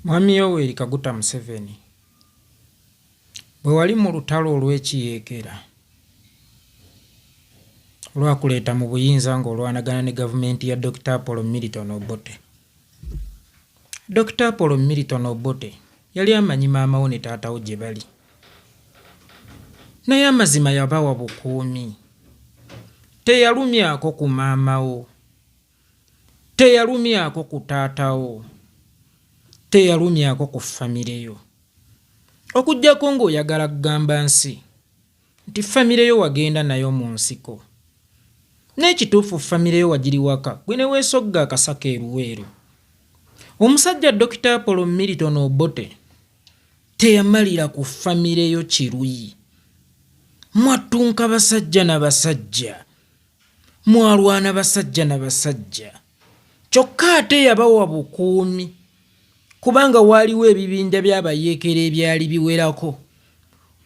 Mwami Yoweri Kaguta Museveni, bwe wali mu lutalo olw'ekiyeekera olwakuleeta mu buyinza ng'olwanagana ne gavumenti ya Dokita Apollo Milton Obote. Dokita Apollo Milton Obote yali amanyi maama wo ne taata wo gye bali. Naye amazima yabawa bukuumi. Teyalumyako ku maama wo. teyalumyako ku taatawo teyalumyako ku famire yo okuggyako ng'oyagala kugamba nsi nti famire yo wagenda nayo mu nsiko n'ekituufu famire yo wagiri waka gwe ne weesogga akasaka eruweeru omusajja dokita apolo milton obote teyamalira ku famire yo kiruyi mwattunka basajja na basajja mwalwana basajja na basajja kyokka ate yabawa bukuumi kubanga waaliwo ebibinja by'abayeekera ebyali biwerako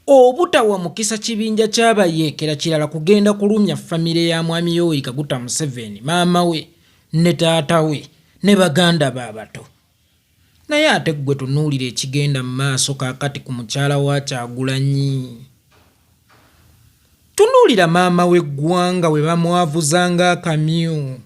obutawa mukisa kibinja ky'abayeekera kirala kugenda kulumya famire ya mwami yoweri kaguta museveni maama we ne taata we ne baganda be abato Naye ate ggwe tunuulira ekigenda mu maaso kaakati ku mukyala wa Kyagulanyi. Tunuulira maama w'eggwanga bwe bamwavuza ng'akamyu.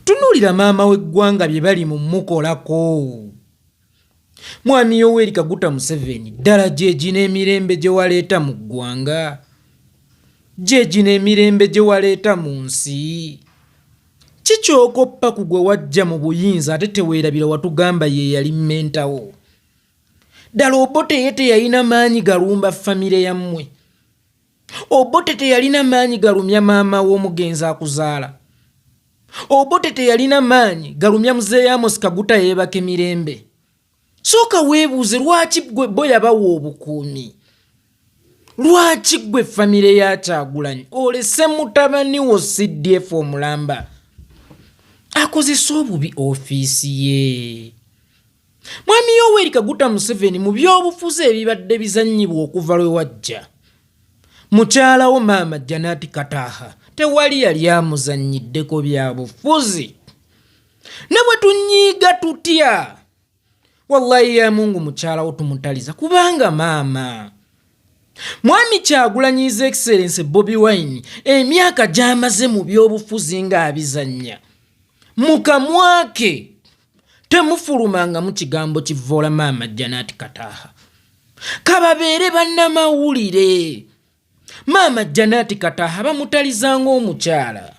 Tunuulira maama w'eggwanga bye bali mu mukolako. Mwami Yoweri Kaguta Museveni ddala gyegi n'emirembe gye waleeta mu ggwanga? Gyegi n'emirembe gye waleeta mu nsi? Ki kyokoppa ku gwe wajja mu buyinza ate teweerabira watugamba ye yali mentawo? Ddala Obote ye teyalina maanyi galumba famire yammwe? Obote teyalina maanyi galumya maama w'omugenzi akuzaala? Obote teyalina maanyi galumya muzeeyi Amos Kaguta yeebake mirembe? sooka weebuuze lwaki gwe bo yabawa obukuumi lwaki gwe famire yakyagulanyi olese mutabani wo cdf omulamba akozesa obubi ofiisi ye mwami yoweri kaguta museveni mu byobufuzi ebibadde bizanyibwa okuva lwe wajja mukyalawo maama janati kataha tewali yali amuzanyiddeko byabufuzi ne bwe tunyiiga tutya wallahi ya mungu mukyalawo tumutaliza kubanga maama mwami kyagulanyiza excellence bobi wine emyaka gyamaze mu byobufuzi ng'abizannya mu kamwake temufulumanga mu kigambo kivvoola maama janati kataha kababeere bannamawulire maama janati kataha bamutaliza ng'omukyala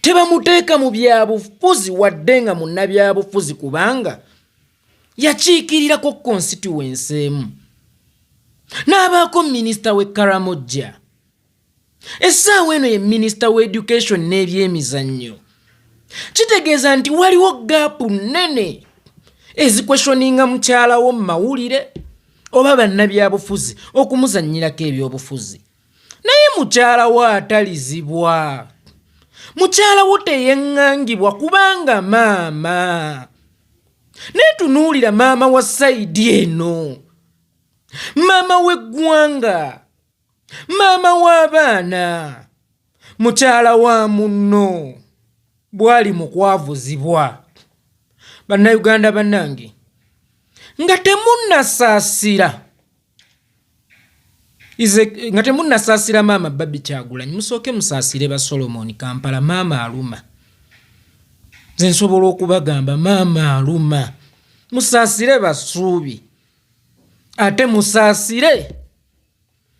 tebamuteeka mu byabufuzi wadde nga munnabyabufuzi kubanga yakiikirirako konsitiwensi emu n'abaako minisita w'e karamojja essaawa eno ye minisita w'education n'ebyemizannyo kitegeeza nti waliwo gaapu nnene ezikweshoninga mukyalawo mu mawulire oba bannabyabufuzi okumuzannyirako ebyobufuzi naye mukyala wo atalizibwa mukyala wo teyeŋŋangibwa kubanga maama naye tunuulira maama wa sayidi eno maama w'eggwanga maama w'abaana mukyala wa munno bwali mu kwavuzibwa bannayuganda bannange nga temunnasaasira nga temunnasaasira maama babi kyagulanyi musooke musaasire ba solomon kampala maama aluma nze nsobola okubagamba maama aluma musaasire basuubi ate musaasire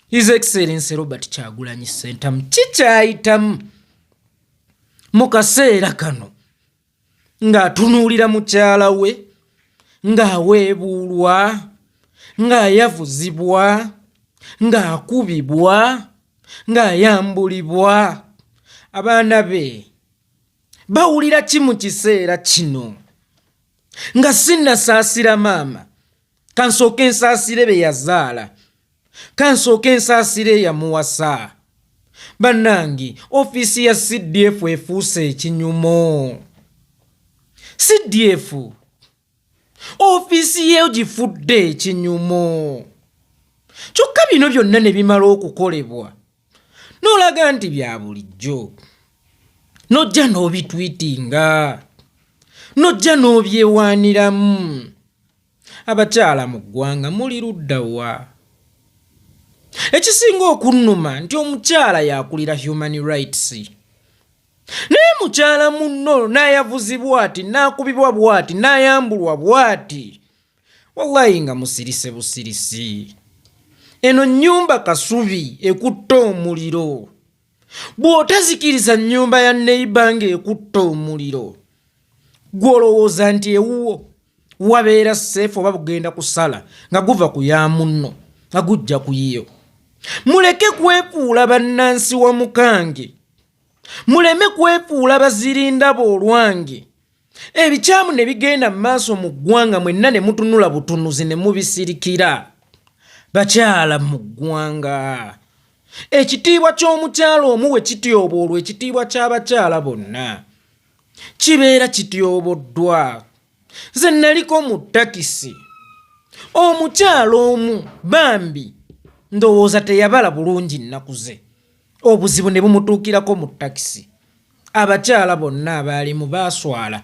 his excellence robert kyagulanyi sentamu kikyayitamu mu kaseera kano ng'atunuulira mukyala we ng'aweebuulwa ng'ayavuzibwa ng'akubibwa ng'ayambulibwa abaana be bawulira ki mu kiseera kino nga sinnasaasira maama kansooka ensaasire be yazaala kansooka ensaasire eyamuwasa bannange ofiisi ya cdf efuuse ekinyumo cdf ofiisi yeyo gifudde ekinyumo kyokka bino byonna ne bimala okukolebwa n'olaga nti bya bulijjo n'ojja n'obitwitinga n'ojja n'obyewaaniramu Abakyala mu ggwanga muli ludda wa? Ekisinga okunnuma nti omukyala yakulira human rights naye mukyala munno n'ayavuzi bwati n'akubibwa bwati n'ayambulwa bwati wallayi nga musirise busirisi eno nnyumba kasubi ekutte omuliro bw'otazikiriza nnyumba ya neyiba ng'ekutta omuliro gw'olowooza nti ewuwo wabeera seefu oba bugenda kusala nga guva ku ya munno nga gujja ku yiyo muleke kwefuula bannansi wa mukange muleme kwefuula bazirindaba olwange ebikyamu ne bigenda mu maaso mu ggwanga mwenna ne mutunula butunuzi ne mubisirikira bakyala mu ggwanga ekitiibwa ky'omukyala omu we kityoboolwa ekitiibwa ky'abakyala bonna kibeera kityoboddwa nze naliko mu takisi omukyala omu bambi ndowooza teyabala bulungi nnaku ze obuzibu ne bumutuukirako mu takisi abakyala bonna abaalimu baaswala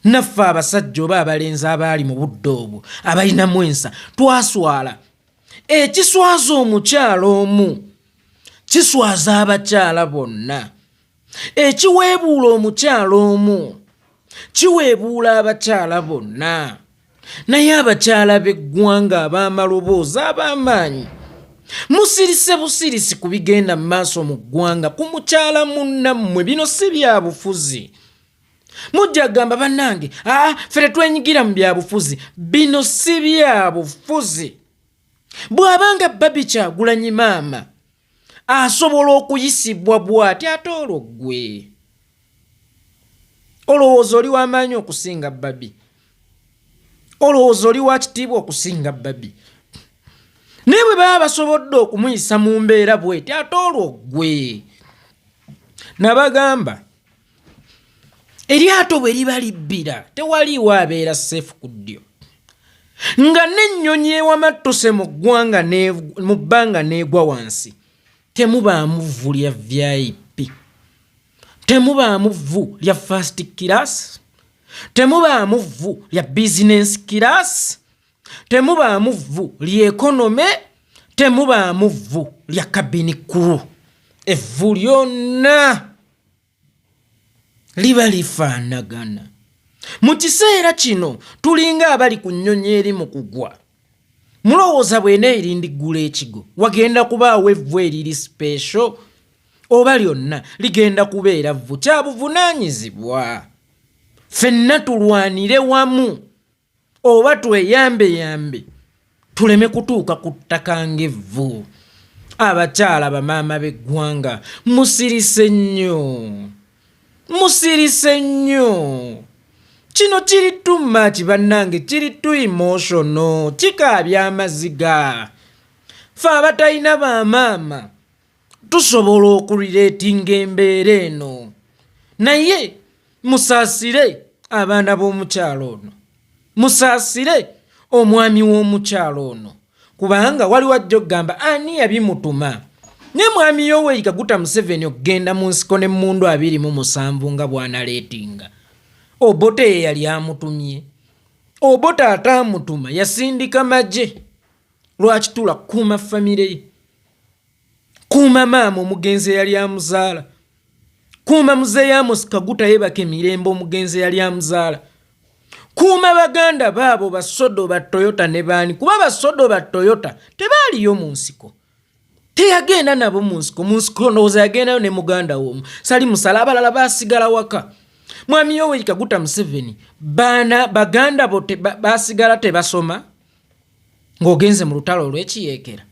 naffe abasajja oba abalenzi abaali mu budde obwo abalinamu ensa twaswala ekiswaza omukyala omu kiswaza abakyala bonna ekiweebuula omukyala omu kiweebuula abakyala bonna naye abakyala b'eggwanga ab'amaloboozi ab'amaanyi musirise busirisi ku bigenda mu maaso mu ggwanga ku mukyala munnammwe bino si bya bufuzi mujja kugamba bannange aa ah, fere twenyigira mu byabufuzi bino si byabufuzi bw'abanga babi kyagulanyi maama asobola okuyisibwa bw'ati ate olwo ggwe olowooza oli w'amaanyi okusinga babi olowooza oli wa kitiibwa okusinga babi naye bwe baba basobodde okumuyisa mu mbeera bw'eti ate olwo ggwe nabagamba eryato bwe liba libbira tewaliiwo abeera seefu ku ddyo nga n'ennyonyi ewamattuse mu ggwanga mu bbanga n'egwa wansi temubaamu vvu lya vip temubaamu vvu lya fast kirasi temubaamu vvu lya bizinensi kirasi temubaamu vvu lyekonome temubaamu vvu lya kabini kulu evvu lyonna liba lifaanagana mu kiseera kino tulinga abali ku nnyonyi eri mu kugwa mulowooza bwena erindiggula ekigo wagenda kubaawo evvu eriri sipeesho oba lyonna ligenda kubeera vvu kya buvunaanyizibwa ffenna tulwanire wamu oba tweyambeyambe tuleme kutuuka ku ttaka ng'evvu abakyala bamaama b'eggwanga musirise nnyo musirise nnyo kino kiri tu maki bannange kiri tu imoshono kikaabya amaziga fe abatalina bamaama tusobola okuliretinga embeera eno naye musaasire abaana b'omukyalo ono musaasire omwami w'omukyalo ono kubanga waliwo ajja okugamba ani yabimutuma naye mwami yoweri kaguta museveni okugenda mu nsiko ne mundu abiri mu musanvu nga bwanaleetinga obote ye yali amutumye obote ate amutuma yasindika magye lwaki tula kuuma famire ye kuuma maama omugenzi eyali amuzaala kuuma muzeeyi amosi kaguta yebaka emirembe omugenzi eyali amuzaala kuuma baganda baabo basodo ba toyota ne baani kuba basodo ba toyota tebaaliyo mu nsiko teyagenda nabo mu nsiko mu nsiko ndowooza yagendayo ne muganda woomu sali musala abalala basigala waka mwami yoweri kaguta museveni baana baganda bo basigala tebasoma ng'ogenze mu lutalo olw'ekiyeekera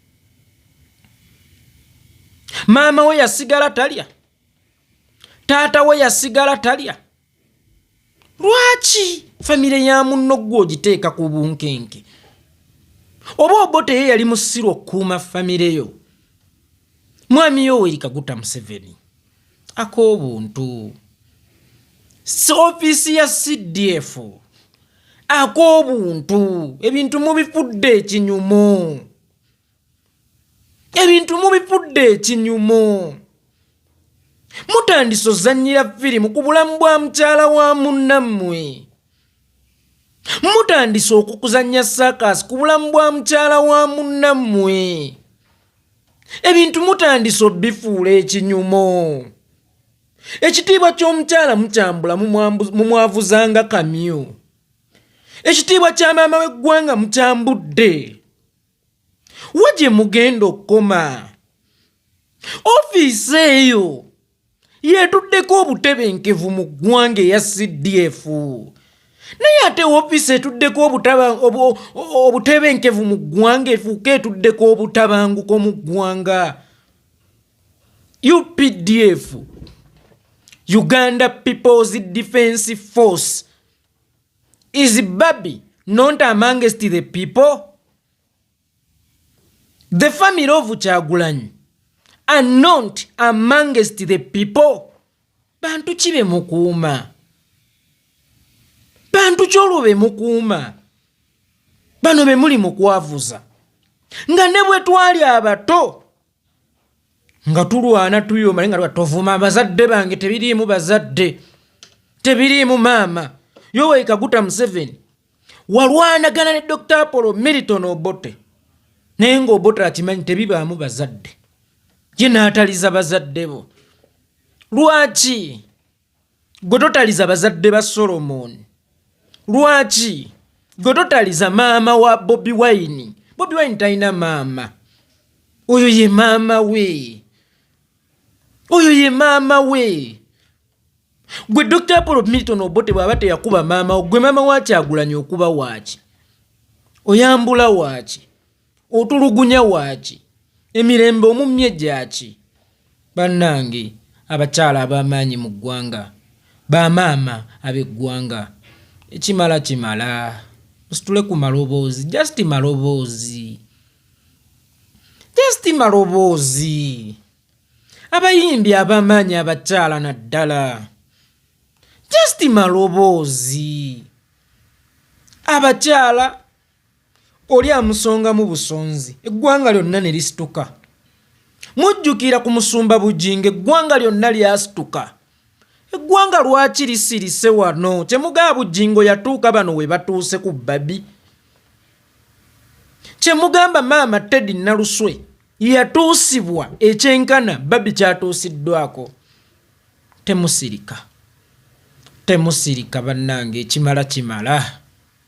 maama we yasigala talya taata we yasigala talya lwaki famire ya munno gwe ogiteeka ku bunkenke oba obote ye yali musiru okukuuma famire yo mwami yo werikaguta museveni ak'obuntu ofiisi ya cdf ak'obuntu ebintu mubifudde ekinyumu ebintu mubifudde ekinyumu mutandise ozannyira firimu ku bulamu bwa mukyala wa munnammwe mutandise okukuzannya saakaasi ku bulamu bwa mukyala wa munnammwe ebintu mutandise obifuula ekinyumo ekitiibwa ky'omukyala mukyambula mumwavuzanga kamyu ekitiibwa kya maama w'eggwanga mukyambudde wa gye mugenda okukoma ofiisi eyo yeetuddeko obutebenkevu mu ggwanga eya cdf naye ate ofiisi etuddeko obutebenkevu mu ggwanga efuuka etuddeko obutabanguko mu ggwanga updf uganda peoples defense force is baby not amongst the people the family of kyagulanyi are not amongst the people bantu ki be mukuuma bantu ki olwo be mukuuma bano be muli mukwavuza nga ne bwe twali abato nga tulwana tuyoma naye nga tovuma abazadde bange tebiriimu bazadde tebiriimu maama yoweri kaguta museveni walwanagana ne dr apollo militon obote naye nga obote akimanyi tebibaamu bazadde ye naataliza bazadde bo lwaki gwe totaliza bazadde ba solomoni lwaki gwe totaliza maama wa bobi wine bobi wine talina maama oyo ye maama we oyo ye maama we gwe dr apolo milton obote bwaba teyakuba maama gwe maama wakyagulanya okuba waaki oyambula waaki otulugunya waaki emirembe omumye gyaki bannange abakyala ab'amaanyi mu ggwanga bamaama ab'eggwanga ekimala kimala musitule ku maloboozi just maloboozi just maloboozi abayimbi ab'amaanyi abakyala naddala just maloboozi abakyala oli amusongamu busonzi eggwanga lyonna ne lisituka mujjukira ku musumba bujinga eggwanga lyonna lyasituka eggwanga lwaki lisirise wano kyemugaa bujingo yatuuka bano we batuuse ku babi kyemugamba maama teddy naluswe yatuusibwa ekyenkana babi kyatuusiddwako temusirika temusirika bannange ekimala kimala, kimala.